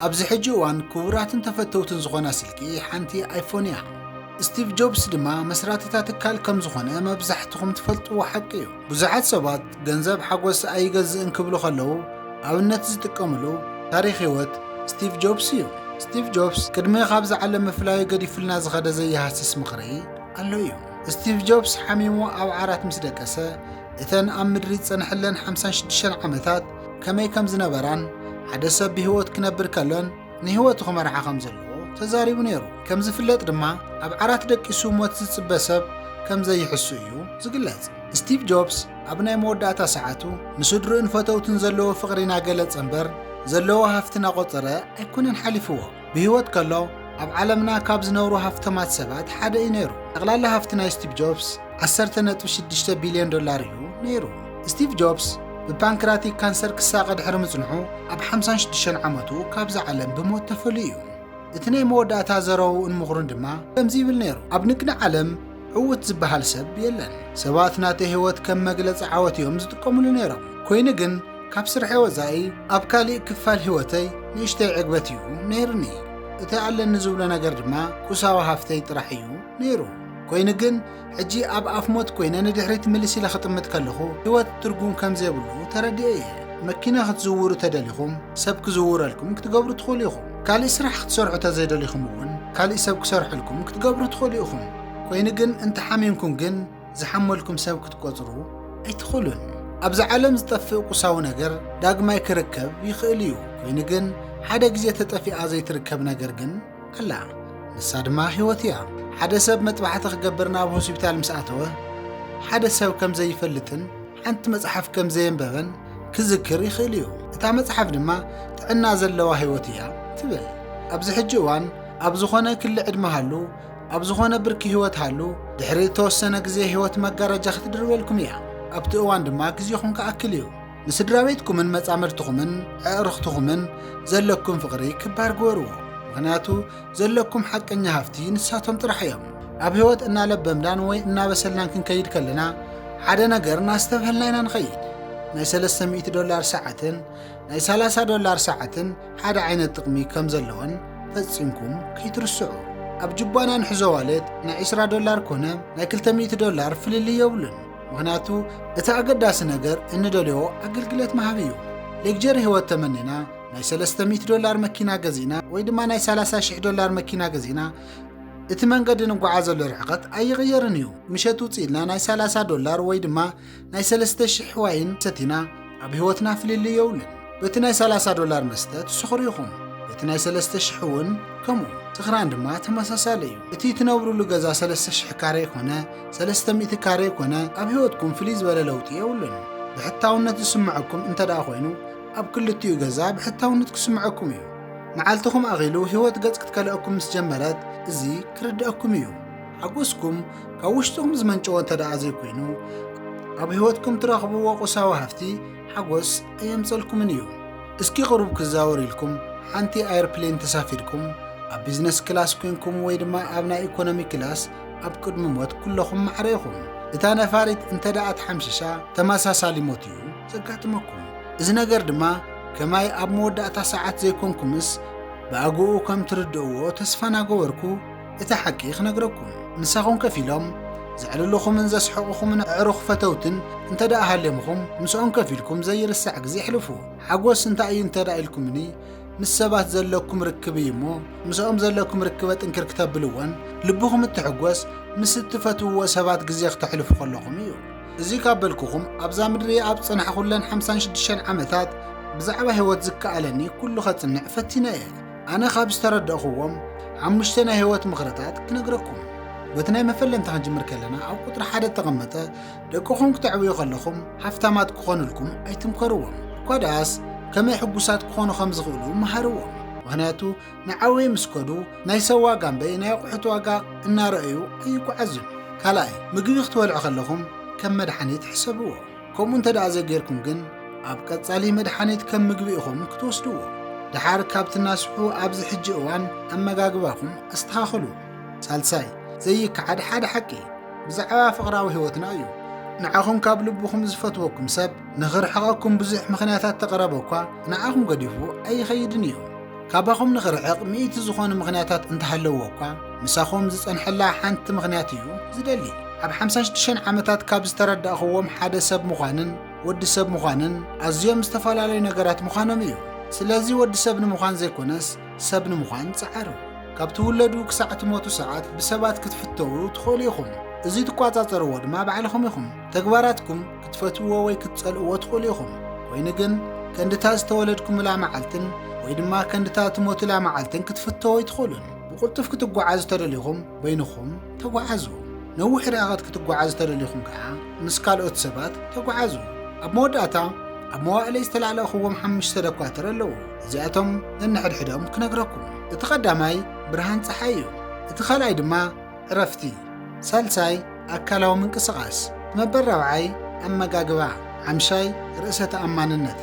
ኣብዚ ሕጂ እዋን ክቡራትን ተፈተውትን ዝኾና ስልኪ ሓንቲ ኣይፎን እያ። ስቲቭ ጆብስ ድማ መስራቲ እታ ትካል ከም ዝኾነ መብዛሕትኹም ትፈልጥዎ ሓቂ እዩ። ብዙሓት ሰባት ገንዘብ ሓጎስ ኣይገዝእን ክብሉ ከለዉ ኣብነት ዝጥቀምሉ ታሪኽ ህይወት ስቲቭ ጆብስ እዩ። ስቲቭ ጆብስ ቅድሚ ካብዚ ዓለም ምፍላዩ ገዲፉልና ዝኸደ ዘይሃስስ ምኽሪ ኣሎ እዩ። ስቲቭ ጆብስ ሓሚሙ ኣብ ዓራት ምስ ደቀሰ እተን ኣብ ምድሪ ዝጸንሐለን ሓምሳን ሽዱሽተን ዓመታት ከመይ ከም ዝነበራን ሓደ ሰብ ብህይወት ክነብር ከሎን ንህይወቱ ክመርሓ ከም ዘለዎ ተዛሪቡ ነይሩ። ከም ዝፍለጥ ድማ ኣብ ዓራት ደቂሱ ሞት ዝጽበ ሰብ ከም ዘይሕሱ እዩ ዝግለጽ። ስቲቭ ጆብስ ኣብ ናይ መወዳእታ ሰዓቱ ንስድርኡን ፈተውቱን ዘለዎ ፍቕሪ እናገለጸ እምበር ዘለዎ ሃፍቲ እናቖጸረ ኣይኮነን ሓሊፍዎ። ብህይወት ከሎ ኣብ ዓለምና ካብ ዝነብሩ ሃፍተማት ሰባት ሓደ እዩ ነይሩ። ጠቕላላ ሃፍቲ ናይ ስቲቭ ጆብስ 10.6 ቢልዮን ዶላር እዩ ነይሩ። ስቲቭ ጆብስ ብፓንክራቲክ ካንሰር ክሳቐ ድሕሪ ምጽንሑ ኣብ 56 ዓመቱ ካብዛ ዓለም ብሞት ተፈልዩ እዩ። እቲ ናይ መወዳእታ ዘረውኡን ምኽሩን ድማ ከምዚ ይብል ነይሩ፣ ኣብ ንግዲ ዓለም ዕዉት ዝበሃል ሰብ የለን። ሰባት ናተይ ህይወት ከም መግለጺ ዓወት እዮም ዝጥቀምሉ ነይሮም። ኰይኑ ግን ካብ ስርሐይ ወጻኢ ኣብ ካልእ ክፋል ህይወተይ ንእሽተይ ዕግበት እዩ ነይሩኒ። እቲ ኣለኒ ዝብሎ ነገር ድማ ቁሳዊ ሃፍተይ ጥራሕ እዩ ነይሩ። ኰይኑ ግን ሕጂ ኣብ ኣፍ ሞት ኰይነ ንድሕሪት ምልስ ኢለ ክጥምት ከለኹ ህይወት ትርጉም ከም ዘይብሉ ተረዲኤ እየ። መኪና ክትዝውሩ ተደሊኹም ሰብ ክዝውረልኩም ክትገብሩ ትኽእሉ ኢኹም። ካልእ ስራሕ ክትሰርሑ ተዘይደሊኹም እውን ካልእ ሰብ ክሰርሐልኩም ክትገብሩ ትኽእሉ ኢኹም። ኮይኑ ግን እንተ ሓሚምኩም ግን ዝሓመልኩም ሰብ ክትቆጽሩ ኣይትኽእሉን። ኣብዚ ዓለም ዝጠፍእ ቁሳዊ ነገር ዳግማይ ክርከብ ይኽእል እዩ። ኮይኑ ግን ሓደ ግዜ ተጠፊኣ ዘይትርከብ ነገር ግን ኣላ። ንሳ ድማ ህይወት እያ። ሓደ ሰብ መጥባሕቲ ክገብር ናብ ሆስፒታል ምስ ኣተወ ሓደ ሰብ ከም ዘይፈልጥን ሓንቲ መጽሓፍ ከም ዘየንበበን ክዝክር ይኽእል እዩ። እታ መጽሓፍ ድማ ጥዕና ዘለዋ ህይወት እያ ትብል። ኣብዚ ሕጂ እዋን ኣብ ዝኾነ ክሊ ዕድመ ሃሉ፣ ኣብ ዝኾነ ብርኪ ህይወት ሃሉ፣ ድሕሪ እተወሰነ ግዜ ህይወት መጋረጃ ክትድርበልኩም እያ። ኣብቲ እዋን ድማ ግዜኹም ክኣክል እዩ። ንስድራ ቤትኩምን መጻምድትኹምን ኣዕሩኽትኹምን ዘለኩም ፍቕሪ ክባር ግበርዎ። ምኽንያቱ ዘለኩም ሓቀኛ ሃፍቲ ንሳቶም ጥራሕ እዮም። ኣብ ህይወት እናለበምናን ወይ እናበሰልናን ክንከይድ ከለና ሓደ ነገር እናስተብሀልና ኢና ንኸይድ። ናይ ሰለስተ ሚእቲ ዶላር ሰዓትን ናይ ሰላሳ ዶላር ሰዓትን ሓደ ዓይነት ጥቕሚ ከም ዘለወን ፈጺምኩም ከይትርስዑ። ኣብ ጅባና ንሕዞ ዋሌት ናይ ዕስራ ዶላር ኮነ ናይ ክልተ ሚእቲ ዶላር ፍልልይ የብሉን። ምኽንያቱ እቲ ኣገዳሲ ነገር እንደልዮ ኣገልግለት ምሃብ እዩ። ሌክጀሪ ህይወት ተመኒና ናይ ሰለስተ ሚእቲ ዶላር መኪና ገዚእና ወይ ድማ ናይ ሰላሳ ሽሕ ዶላር መኪና ገዚእና እቲ መንገዲ ንጓዓዘሉ ርሕቐት ኣይቕየርን እዩ። ምሸት ውፅእ ኢልና ናይ ሰላሳ ዶላር ወይ ድማ ናይ ሰለስተ ሽሕ ዋይን ሰቲና ኣብ ህይወትና ፍልልይ የብሉን። በቲ ናይ ሰላሳ ዶላር መስተ ትስኽሩ ኢኹም፣ በቲ ናይ ሰለስተ ሽሕ እውን ከምኡ። ስኽራን ድማ ተመሳሳሊ እዩ። እቲ እትነብሩሉ ገዛ ሰለስተ ሽሕ ካሬ ኮነ ሰለስተ ሚእቲ ካሬ ኮነ ኣብ ህይወትኩም ፍልይ ዝበለ ለውጢ የብሉን። ብሕታውነት ዝስምዐኩም እንተድኣ ኮይኑ ኣብ ክልቲኡ ገዛ ብሕታውነት ክስምዐኩም እዩ። መዓልትኹም ኣኺሉ ህይወት ገጽ ክትከልኣኩም ምስ ጀመረት እዚ ክርድኣኩም እዩ። ሓጎስኩም ካብ ውሽጥኹም ዝመንጨወ እንተደኣ ዘይኮይኑ ኣብ ህይወትኩም ትረኽብዎ ቁሳዊ ሃፍቲ ሓጎስ ኣየምጸልኩምን እዩ። እስኪ ቅሩብ ክዛወር ኢልኩም ሓንቲ ኣይርፕሌን ተሳፊርኩም ኣብ ቢዝነስ ክላስ ኮንኩም ወይ ድማ ኣብ ናይ ኢኮኖሚ ክላስ ኣብ ቅድሚ ሞት ኩለኹም ማዕረ ኢኹም። እታ ነፋሪት እንተደኣ ተሓምሺሻ ተመሳሳሊ ሞት እዩ። ዘጋጥመኩም። እዚ ነገር ድማ ከማይ ኣብ መወዳእታ ሰዓት ዘይኮንኩምስ ብኣግኡ ከም ትርድእዎ ተስፋ ናገበርኩ እቲ ሓቂ ክነግረኩም። ምሳኹም ከፍ ኢሎም ዘዕልሉኹምን ዘስሕቑኹምን ኣዕሩኽ ፈተውትን እንተደኣ ሃልዮምኹም ምስኦም ከፍ ኢልኩም ዘይርሳዕ ግዜ ኣሕልፉ። ሓጎስ እንታይ እዩ እንተደኣ ኢልኩምኒ ምስ ሰባት ዘለኩም ርክብ እዩ እሞ ምስኦም ዘለኩም ርክበ ጥንክር ክተብልዎን ልብኹም እትሕጎስ ምስ እትፈትውዎ ሰባት ግዜ ክተሕልፉ ከለኹም እዩ። እዚ ካብ በልኩኹም ኣብዛ ምድሪ ኣብ ዝጸናሕኹለን ሓምሳን ሽዱሽተን ዓመታት ብዛዕባ ህይወት ዝከኣለኒ ኩሉ ከጽንዕ ፈቲነ እየ ኣነ ካብ ዝተረዳእኹዎም ሓሙሽተ ናይ ህይወት ምኽርታት ክነግረኩም በቲ ናይ መፈለምታ ክንጅምር ከለና ኣብ ቁጥሪ ሓደ እተቐመጠ ደቅኹም ክተዕብዩ ከለኹም ሃፍታማት ክኾኑልኩም ኣይትምከርዎም እኳ ደኣስ ከመይ ሕጉሳት ክኾኑ ከም ዝኽእሉ መሃርዎም ምክንያቱ ንዓውይ ምስ ከዱ ናይ ሰብ ዋጋ እምበይ ናይ ኣቑሑት ዋጋ እናረኣዩ ኣይጓዓዙን። ካልኣይ ምግቢ ክትበልዑ ከለኹም ከም መድሓኒት ሕሰብዎ። ከምኡ እንተደኣ ዘይጌርኩም ግን ኣብ ቀጻሊ መድሓኒት ከም ምግቢ ኢኹም ክትወስድዎ። ደሓር ካብ ትናስሑ ኣብዚ ሕጂ እዋን ኣመጋግባኹም ኣስተኻኽሉ። ሳልሳይ ዘይከሓድ ሓደ ሓቂ ብዛዕባ ፍቕራዊ ህይወትና እዩ። ንዓኹም ካብ ልብኹም ዝፈትወኩም ሰብ ንኽርሕቐኩም ብዙሕ ምኽንያታት ተቕረበ እኳ ንዓኹም ገዲፉ ኣይኸይድን እዩ። ካባኹም ንኽርሕቕ ሚእቲ ዝኾኑ ምኽንያታት እንተሃለዎ እኳ ምሳኹም ዝጸንሐላ ሓንቲ ምኽንያት እዩ ዝደሊ። ኣብ ሓምሳ ሽዱሽተ ዓመታት ካብ ዝተረዳእኽዎም ሓደ ሰብ ምዃንን ወዲ ሰብ ምዃንን ኣዝዮም ዝተፈላለዩ ነገራት ምዃኖም እዩ። ስለዚ ወዲ ሰብ ንምዃን ዘይኮነስ ሰብ ንምዃን ጸዓሩ። ካብ ትውለዱ ክሳዕ ትሞቱ ሰዓት ብሰባት ክትፍተዉ ትኽእሉ ኢኹም። እዚ ትቋጻጸርዎ ድማ ባዕልኹም ኢኹም። ተግባራትኩም ክትፈትውዎ ወይ ክትጸልእዎ ትኽእሉ ኢኹም፣ ኮይኑ ግን ከንድታ ዝተወለድኩምላ መዓልትን ወይ ድማ ከንድታ ትሞቱላ መዓልትን ክትፍተው ኣይትኽእሉን። ብቕልጡፍ ክትጓዓዙ ተደሊኹም በይንኹም ተጓዓዙ፣ ነዊሕ ርሕቐት ክትጓዓዙ ተደሊኹም ከኣ ምስ ካልኦት ሰባት ተጓዓዙ። ኣብ መወዳእታ ኣብ መዋእለይ ዝተላለእኽዎም ሓሙሽተ ደኳትር ኣለዉ፣ እዚኣቶም ነንሕድሕዶም ክነግረኩም። እቲ ቀዳማይ ብርሃን ጸሓይ እዩ፣ እቲ ካልኣይ ድማ እረፍቲ፣ ሳልሳይ ኣካላዊ ምንቅስቓስ፣ ነበር ራብዓይ ኣመጋግባ፣ ሓምሻይ ርእሰ ተኣማንነት፣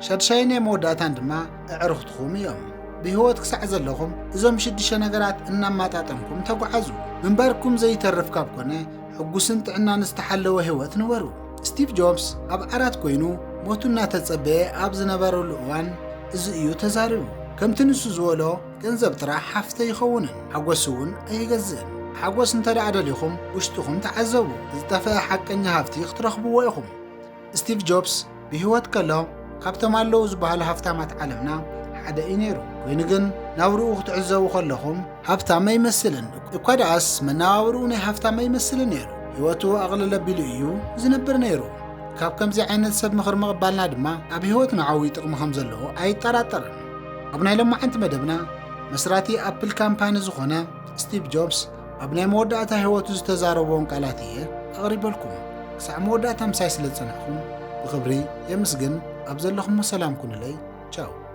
ሻድሻይ ናይ መወዳእታን ድማ ኣዕርኽትኹም እዮም። ብህይወት ክሳዕ ዘለኹም እዞም ሽዱሽተ ነገራት እናማጣጠንኩም ተጓዓዙ። ምንባርኩም ዘይተርፍ ካብ ኮነ ሕጉስን ጥዕናን ዝተሓለወ ህይወት ንበሩ። ስቲቭ ጆብስ ኣብ ዓራት ኮይኑ ሞቱ እናተጸበየ ኣብ ዝነበረሉ እዋን እዚ እዩ ተዛሪቡ። ከምቲ ንሱ ዝበሎ ገንዘብ ጥራሕ ሃፍቲ ኣይኸውንን፣ ሓጎስ እውን ኣይገዝእን። ሓጎስ እንተደኣ ደሊኹም ውሽጥኹም ተዓዘቡ፣ ዝጠፈኣ ሓቀኛ ሃፍቲ ክትረኽብዎ ኢኹም። ስቲቭ ጆብስ ብህይወት ከሎ ካብቶም ኣለዉ ዝበሃሉ ሃፍታማት ዓለምና ሓደ እዩ ነይሩ። ኮይኑ ግን ናብርኡ ክትዕዘቡ ከለኹም ሃብታም ኣይመስልን፣ እኳ ደኣስ መነባብርኡ ናይ ሃፍታም ኣይመስልን ነይሩ። ህይወቱ ኣቕልል ኣቢሉ እዩ ዝነብር ነይሩ። ካብ ከምዚ ዓይነት ሰብ ምኽሪ ምቕባልና ድማ ኣብ ህይወትና ዓብዪ ጥቕሚ ከም ዘለዎ ኣይጠራጠርን። ኣብ ናይ ሎማዓንቲ መደብና መስራቲ ኣፕል ካምፓኒ ዝኾነ ስቲቭ ጆብስ ኣብ ናይ መወዳእታ ህይወቱ ዝተዛረቦን ቃላት እየ ኣቕሪበልኩም ክሳዕ መወዳእታ ምሳይ ስለ ዝጸናሕኹም ብኽብሪ የምስግን ኣብ ዘለኹሞ ሰላም ኩኑለይ ቻው